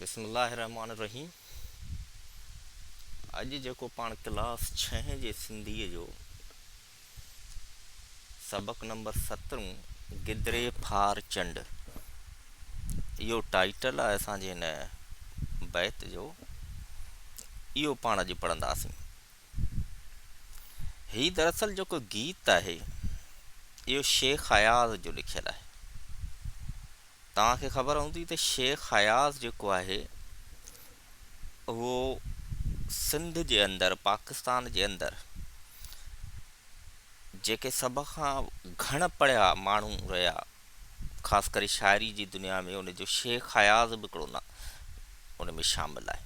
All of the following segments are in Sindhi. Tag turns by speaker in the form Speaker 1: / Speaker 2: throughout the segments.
Speaker 1: بسم الله الرحمٰن الرحيم اڄ جيڪو پاڻ ڪلاس ڇهين جي سنڌيء جو سبق نمبر سترون گدري ڦار چنڊ اهو ٽائيٽل آهي اسان جي هن بيت جو اهو پاڻ اڄ پڙهنداسين هي دراصل جيڪو گيت آهي اهو شيخ اياز جو لکيل آهي توهان کي خبر هوندي ته شيخ اياز جيڪو آهي اهو سنڌ جي اندر پاڪستان جي اندر جيڪي سڀ کان گهڻ پڙهيا ماڻهو رهيا خاص ڪري شاعري جي دنيا ۾ ان جو شيخ اياز به هڪڙو نالو ان ۾ شامل آهي.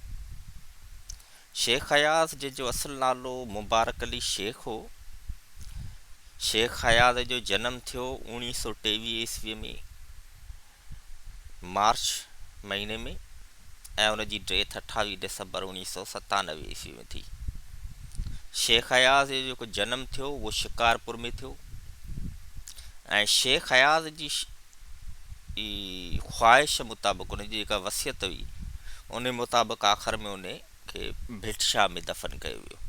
Speaker 1: شيخ اياز جنهن جو اصل نالو مبارڪ علي شيخ هو. شيخ اياز جو جنم ٿيو اوڻيهه سؤ ٽيويهه عيسوي ۾ مارچ مهيني ۾. ۽ ان جي ڊيٿ اٺاويهه ڊسمبر اوڻيهه سؤ ستانوي عيسوي ۾ ٿي. شيخ اياز جو جيڪو جنم ٿيو اهو شڪارپور ۾ ٿيو ۽ شيخ اياز جي جي خواهش مطابق ان جي جيڪا وصيت هئي ان مطابق آخر ۾ ان کي ڀٽ شاهه ۾ دفن ڪيو ويو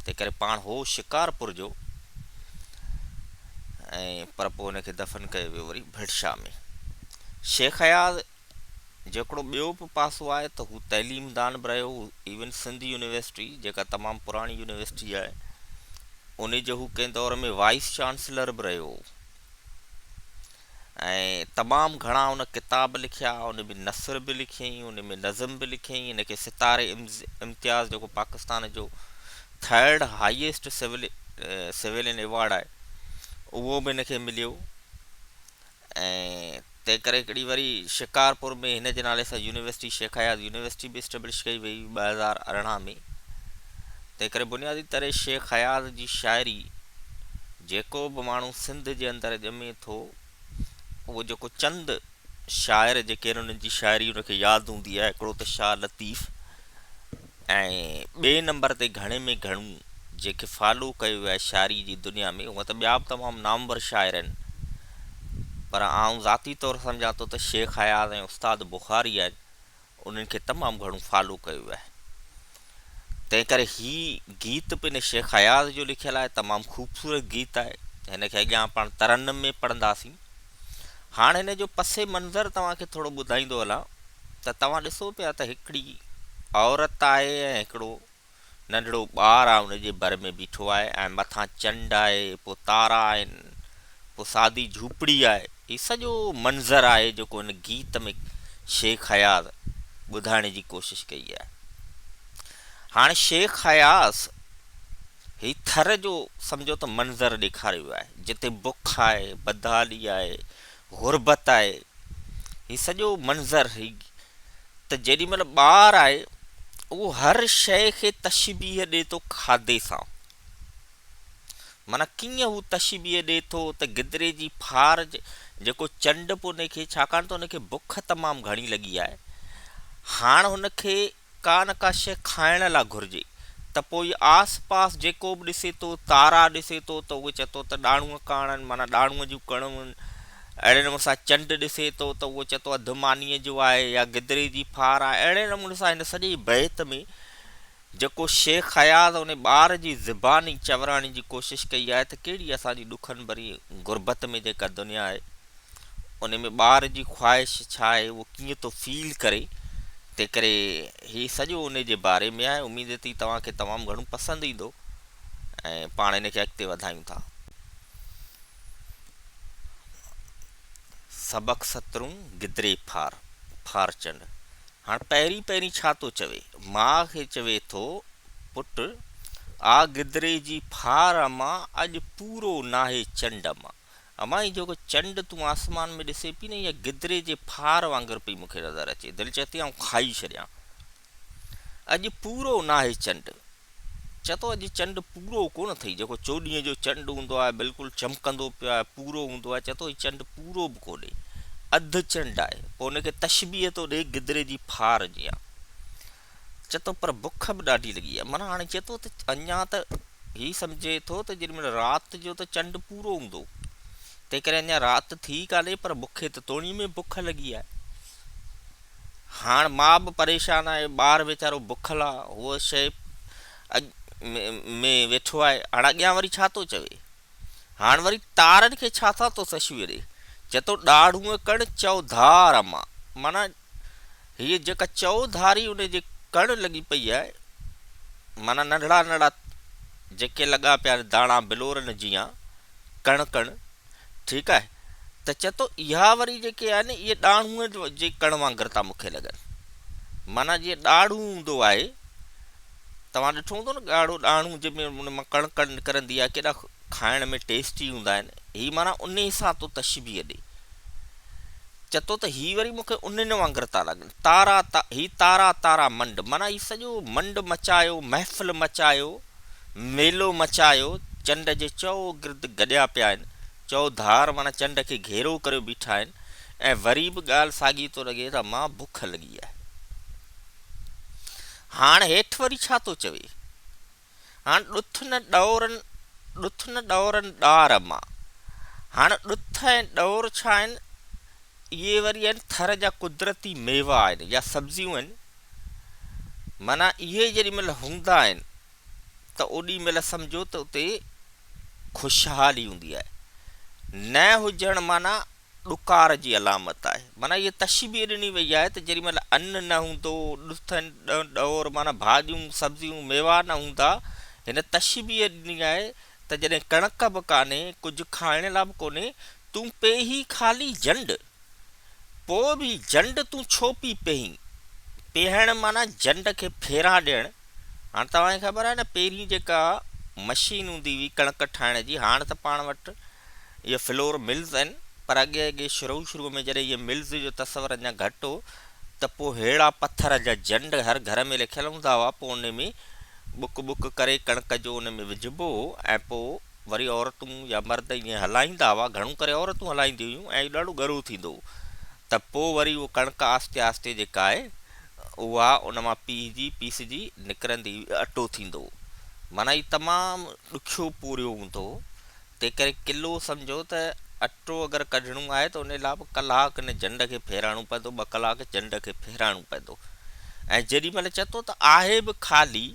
Speaker 1: تنهن ڪري پاڻ هو شڪارپور جو ۽ پر پوء ان کي دفن ڪيو ويو وري ڀٽ شاهه ۾ شيخ اياز جيڪڙو ٻيو به پاسو آهي ته هو تعليم دان به رهيو هو ايون سنڌ يونيورسٽي جيڪا تمام پراڻي يونيورسٽي آهي انهي جو هو ڪنهن دور ۾ وائيس چانسلر به رهيو هو ۽ تمام گهڻا ان ڪتاب لکيا ان ۾ نثر به لکيائين ان ۾ نظم به لکيائين ان کي ستاري امتياز جيڪو پاڪستان جو ٿرڊ هائيسٽ سويلين ايوارڊ آهي اهو به ان کي مليو ۽ تنهن ڪري هڪڙي وري شڪارپور ۾ هن جي نالي سان يونيورسٽي شيخ اياز يونيورسٽي به اسٽيبلش ڪئي وئي 2018 ۾ تنهن ڪري بنيادي طرح شيخ اياز جي شاعري جيڪو به ماڻهو سنڌ جي اندر ڄمي ٿو اهو جيڪو چند شاعر جيڪي انهن جي شاعري ان کي ياد هوندي آهي هڪڙو ته شاهه لطيف ۽ ٻئي نمبر تي گهڻي ۾ گهڻو جنهن کي فالو ڪيو ويو آهي شاعري جي دنيا ۾ هونئن ته ٻيا به تمام نامور شاعر آهن پر آئون ذاتي طور سمجهان ٿو ته شيخ اياز ۽ استاد بخاري آهن انهن کي تمام گهڻو فالو ڪيو ويو آهي تنهن ڪري هي گيت پڻ شيخ اياز جو لکيل آهي تمام خوبصورت گيت آهي هن کي اڳيان پاڻ ترنم ۾ پڙهنداسين هاڻ هن جو پس منظر توهان کي ٿورو ٻڌائيندو هلان ته توهان ڏسو پيا ته هڪڙي عورت آهي ۽ هڪڙو ننڍڙو ٻار آهي ان جي ڀر ۾ بيٺو آهي ۽ مٿان چنڊ آهي پوء تارا آهن پوء سادي جهوپڙي آهي هي سڄو منظر آهي جيڪو هن گيت ۾ شيخ اياز ٻڌائڻ جي ڪوشش ڪئي آهي هاڻ شيخ اياز هي ٿر جو سمجهو ته منظر ڏيکاريو ويو آهي، جتي بک آهي، بدحالي آهي، غربت آهي. هي سڄو منظر هي ته جيڏي مهل ٻار آهي، اهو هر شيء کي تشبيهه ڏئي ٿو کاڌي سان. معنيٰ ڪيئن هو تشبيهه ڏئي ٿو ته گدري جي ڦار جيڪو چنڊ به ان کي ڇاڪاڻ ته ان کي بک تمام گهڻي لڳي آهي، هاڻ هن کي ڪان ڪا شيء کائڻ لا گهرجي ته پوء آس پاس جيڪو به ڏسي ٿو تارا ڏسي ٿو ته اهو چئي ٿو ته ڏاڙهون ڪاڻن معنيٰ ڏاڙهون جون ڪڻون اهڙي نموني سان چنڊ ڏسي ٿو ته اهو چئي ٿو اڌ مانيء جو آهي يا گدري جي ڦار آهي اهڙي نموني سان هن سڄي بيت ۾ جيڪو شيخ اياز ان ٻار جي زباني چوراڻي جي ڪوشش ڪئي آهي ته ڪهڙي اسان جي ڏکن ڀري غربت ۾ جيڪا دنيا آهي ان ۾ ٻار جي خواهش ڇا آهي اهو ڪيئن ٿو فيل ڪري تنهن ڪري هي سڄو ان جي باري ۾ آهي اميد ٿي توهان کي تمام گهڻو پسند ايندو ۽ پاڻ ان کي اڳتي وڌايون ٿا سبق سترون گدري ڦار ڦار چنڊ هاڻ پهرين پهرين ڇا ٿو چوي ماء کي چوي ٿو پٽ آ گدري جي ڦار امان اڄ پورو ناهي چنڊ امان امان هي جيڪو چنڊ تون آسمان ۾ ڏسين پئي نه اها گدري جي ڦار وانگر پئي مون کي نظر اچي دل چئي ٿي آئون کائي ڇڏيان اڄ پورو ناهي چنڊ چئه ٿو اڄ چنڊ پورو ڪونه اٿئي جيڪو چوڏهينء جو چنڊ هوندو آهي بلڪل چمڪندو پيو آهي پورو هوندو آهي چئه ٿو هي چنڊ پورو به ڪونهي اڌ چنڊ آهي پوء ان کي تشبيهه ٿو ڏئي گدري جي ڦار جيان چئي ٿو پر بک به ڏاڍي لڳي آهي معنيٰ هاڻي چئي ٿو ته اڃا ته هي سمجهي ٿو ته جيڏي مهل رات جو ته چنڊ پورو هوندو تنهن ڪري اڃا رات ٿي ڪانهي پر مون کي ته توڻي ۾ بک لڳي آهي هاڻ ماء به پريشان آهي ٻار ويچارو بکل آهي هو شيء ۾ ويٺو آهي هاڻ اڳيان وري ڇا ٿو چوي هاڻ وري تارن کي ڇا ٿا تو سشويء ڏي چتو ڏاڙهونء ڪڻ چئو ڌار اما معنيٰ هيء جيڪا چئو ڌاري ان جي ڪڻ لڳي پئي آهي معنيٰ ننڍڙا ننڍڙا جيڪي لڳا پيا آهن داڻا بلورن جيان ڪڻ ڪڻ ٺيڪ آهي ته چتو اها وري جيڪي آهن اهي ڏاڙهونء جي ڪڻ وانگر ٿا مون کي لڳن معنيٰ جيئن ڏاڙهون هوندو آهي توهان ڏٺو هوندو نه ڳاڙهو ڏاڻو جنهن ۾ ان مان ڪڻ ڪڻ نڪرندي آهي ڪيڏا کائڻ ۾ ٽيسٽي هوندا آهن هي معنيٰ انهي سان ٿو تشبيهه ڏي چئه ٿو ته هي وري مون کي انهن وانگر ٿا لڳن تارا تا هي تارا تارا منڊ معنيٰ هي سڄو منڊ مچايو محفل مچايو ميلو مچايو چنڊ جي چئو گرد گڏيا پيا آهن چئو ڌار معنيٰ چنڊ کي گهيرو ڪريو بيٺا آهن ۽ وري به ڳالهه ساڳي ٿو لڳي ته مان بک لڳي آهي هاڻ هيٺ وري ڇا ٿو چوي؟ هاڻ ڏٿ نه ڏورن ڏٿ نه ڏورن ڏار مان. هاڻ ڏٿ ۽ ڏور ڇا آهن؟ اهي وري آهن ٿر جا قدرتي ميوا آهن يا سبزيون آهن. معنيٰ اهي جيڏي مهل هوندا آهن ته اوڏي مهل سمجهو ته اتي خوشحالي هوندي آهي. نه هجڻ معنيٰ ڏڪار جي علامت آهي. معنيٰ هيء تشبيهه ڏني وئي آهي ته جيڏي مهل ان نه هوندو، ڏٿن، ڏهن، ڏهور معنيٰ ڀاڄيون، سبزيون، ميوا نه هوندا، هن تشبيهه ڏني آهي ته جڏهن ڪڻڪ به ڪانهي، ڪجهه کائڻ لاء به ڪونهي، تون پيهي خالي جنڊ. پوء به جنڊ تون ڇو پي پيهين؟ پيهڻ معنيٰ جنڊ کي ڦيرا ڏيڻ. هاڻ توهان کي خبر آهي نه پهرين جيڪا مشين هوندي هئي ڪڻڪ ٺاهڻ جي هاڻ ته پاڻ وٽ اهي فلور ملز آهن پر اڳي اڳي شروع شروع ۾ جڏهن اهي ملز جو تصور اڃا گهٽ هو ته پوء ههڙا پٿر جا جنڊ هر گهر ۾ لکيل هوندا هئا پوء ان ۾ ٻڪ ٻڪ ڪري ڪڻڪ جو ان ۾ وجهبو هو ۽ پوء وري عورتون يا مرد ايئن هلائيندا هئا گهڻو ڪري عورتون هلائينديون هيون ۽ اهو ڏاڍو ڳرو ٿيندو هو ته پوء وري اهو ڪڻڪ آهستي آهستي جيڪا آهي اها ان مان پيهجي، پيسجي، نڪرندي اٽو ٿيندو. معنيٰ هي تمام ڏکيو پورهيو هوندو. تنهن ڪري ڪلو سمجهو ته اٽو اگر ڪڍڻو آهي ته انهي لاء به ڪلاڪ ان جنڊ کي ڦيراڻو پوندو، ٻه ڪلاڪ جنڊ کي ڦيراڻو پوندو. ۽ جيڏي مهل چئه ٿو ته آهي به خالي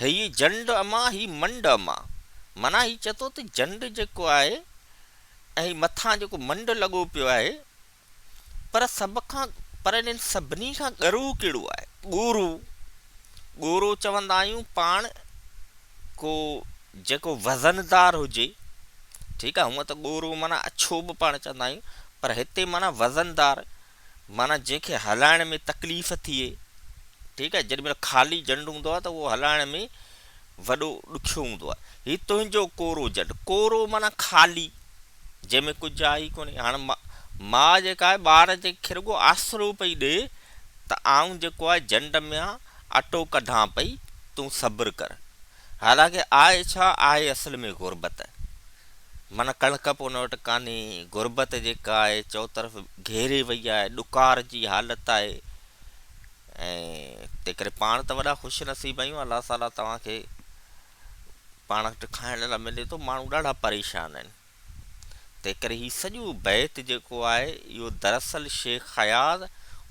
Speaker 1: هيء جنڊ امان هي منڊ امان. معنيٰ هي چئه ٿو ته جنڊ جيڪو آهي ۽ هي مٿان جيڪو منڊ لڳو پيو آهي، پر سڀ کان پر انهن سڀني کان ڳرو ڪهڙو آهي؟ ڳورو، ڳورو چوندا آهيون پاڻ ڪو جيڪو وزن دار هجي ٺيڪ آهي هونء ته ڳورو معنيٰ اڇو به پاڻ چوندا آهيون پر هتي معنيٰ وزن دار معنيٰ جنهن کي هلائڻ ۾ تڪليف ٿئي ٺيڪ آهي جيڏي مهل خالي جنڊ هوندو آهي ته اهو هلائڻ ۾ وڏو ڏکيو هوندو آهي. هي تنهنجو ڪورو جڏ، ڪورو معنيٰ خالي، جنهن ۾ ڪجهه آهي ئي ڪونهي. هاڻ ماء جيڪا آهي ٻار جي کي رڳو آسرو پئي ڏئي ته آئون جيڪو آهي جنڊ ميان اٽو ڪڍان پئي، تون صبر ڪر. حالانڪه آهي ڇا؟ آهي اصل ۾ غربت. معنيٰ ڪڻڪ به ان وٽ ڪانهي، غربت جيڪا آهي چوطرف گهيري وئي آهي، ڏڪار جي حالت آهي. ۽ تنهنڪري پاڻ ته وڏا خوش نصيب آهيون الله تعالي توهان کي پاڻ وٽ کائڻ لاء ملي ٿو ماڻهو ڏاڍا پريشان آهن تنهنڪري هي سڄو بيت جيڪو آهي اهو دراصل شيخ اياز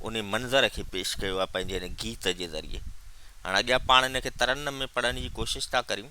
Speaker 1: ان منظر کي پيش ڪيو آهي پنهنجي هن گيت جي ذريعي هاڻ اڳيان پاڻ ان کي ترنم ۾ پڙهڻ جي ڪوشش ٿا ڪريون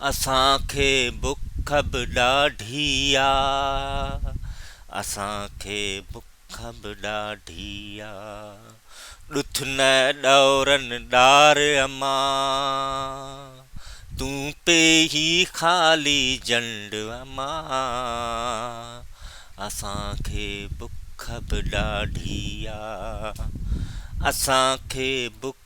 Speaker 1: اسان کي بک به ڏاڍي آ. اسان کي بک به ڏاڍي آ. ڏٿ نه ڏورن ڏار امان. تون پي هي خالي جنڊ امان. اسان کي بک به ڏاڍي آ. اسان کي بک